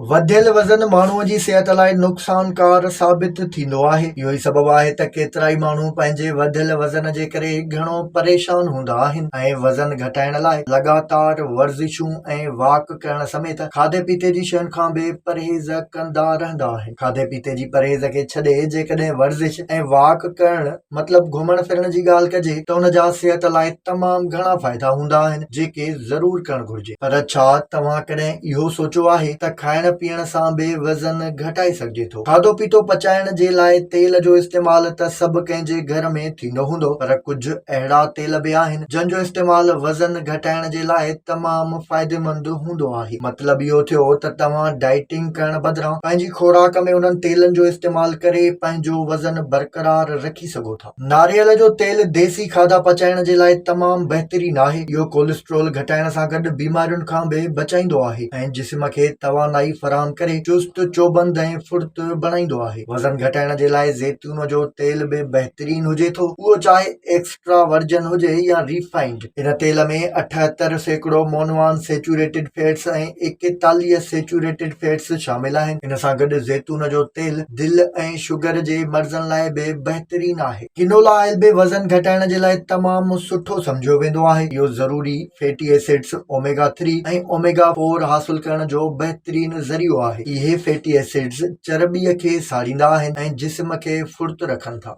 وڌيل وزن ماڻهوء جي صحت لاء نقصانڪار ثابت ٿيندو آهي. اهو ئي سبب آهي ته ڪيترائي ماڻهو پنهنجي وڌيل وزن جي ڪري گهڻو پريشان هوندا آهن ۽ وزن گهٽائڻ لاء لڳاتار ورزشون ۽ واڪ ڪرڻ سميت کاڌي پيتي جي شين کان به پرهيز ڪندا رهندا آهن. کاڌي پيتي جي پرهيز کي ڇڏي جيڪڏهن ورزش ۽ واڪ ڪرڻ مطلب گهمڻ ڦرڻ جي ڳالهه ڪجي ته ان جا صحت لاء تمام گهڻا فائدا هوندا آهن جيڪي ضرور ڪرڻ گهرجي. پر ڇا توهان ڪڏهن اهو سوچيو آهي ته کائڻ پيئڻ سان به وزن گهٽائي سگهجي ٿو؟ کاڌو پيتو پچائڻ جي لاء تيل جو استعمال ته سڀ ڪنهن جي گهر ۾ ٿيندو هوندو پر ڪجهه اهڙا تيل به آهن جن جو استعمال وزن گهٽائڻ جي لاء تمام فائديمند هوندو آهي. مطلب اهو ٿيو ته توهان ڊائيٽنگ ڪرڻ بدران پنهنجي خوراڪ ۾ انهن تيلن جو استعمال ڪري پنهنجو وزن برقرار رکي سگهو ٿا. ناريل جو تيل ديسي کاڌا پچائڻ جي لاء تمام بهترين آهي، اهو ڪوليسٽرول گهٽائڻ سان گڏ بيمارين کان به بچائيندو آهي ۽ جسم کي توانائي فراهم ڪري چست، چوبند ۽ ڦڙت بڻائيندو آهي. وزن گهٽائڻ جي لاء زيتون جو تيل به بهترين هجي ٿو، اهو چاهي ايڪسٽرا ورجن هجي يا ريفائنڊ. هن تيل ۾ اٺهتر سيڪڙو مونو ان سيچوريٽيڊ فيٽس ۽ ايڪيتاليهه سيچوريٽيڊ فيٽس شامل آهن. ان سان گڏ زيتون جو تيل دل ۽ شگر جي مرضن لاء به بهترين آهي. ڪينولا آئل به وزن گهٽائڻ جي لاء تمام سٺو سمجهيو ويندو آهي. اهو ضروري fatty acids, omega three ۽ omega four حاصل ڪرڻ جو بهترين ذريعو آهي. اهي فيٽي ايسڊز چرٻيء کي ساڙيندا آهن ۽ جسم کي ڦڙت رکن ٿا.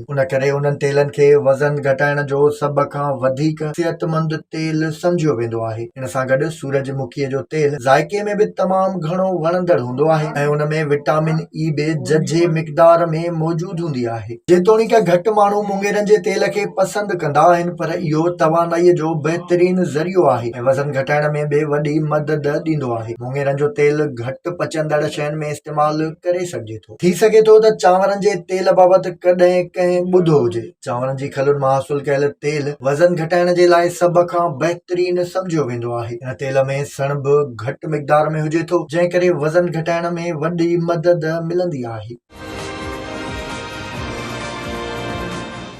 ان ڪري انهن تيلن کي وزن گهٽائڻ جو سڀ کان وڌيڪ صحتمند تيل سمجهيو ويندو آهي. ان سان گڏ سورج مکيء جو تيل ذائقي ۾ به تمام گهڻو وڻندڙ هوندو آهي ۽ ان ۾ وٽامن اي به ججهي مقدار ۾ موجود هوندي آهي. جيتوڻيڪ گهٽ ماڻهو مڱيرن جي تيل کي پسند ڪندا آهن پر اهو توانائيء جو بهترين ذريعو آهي ۽ وزن گهٽائڻ ۾ به وڏي مدد ڏيندو آهي. مڱيرن جو تيل گهٽ پچندڙ شين ۾ استعمال ڪري سگهجي ٿو. ٿي سگهي ٿو ته چانورن جي تيل بابت ڪڏهن ڪنهن ٻڌو هجي. چانورن جي کلن مان حاصل ڪيل تيل وزن گهٽائڻ جي لاء سڀ کان بهترين سمجهيو ويندو آهي. ان تيل ۾ سڻڀ گهٽ مقدار ۾ هجي ٿو، جنهن ڪري وزن گهٽائڻ ۾ وڏي مدد ملندي آهي.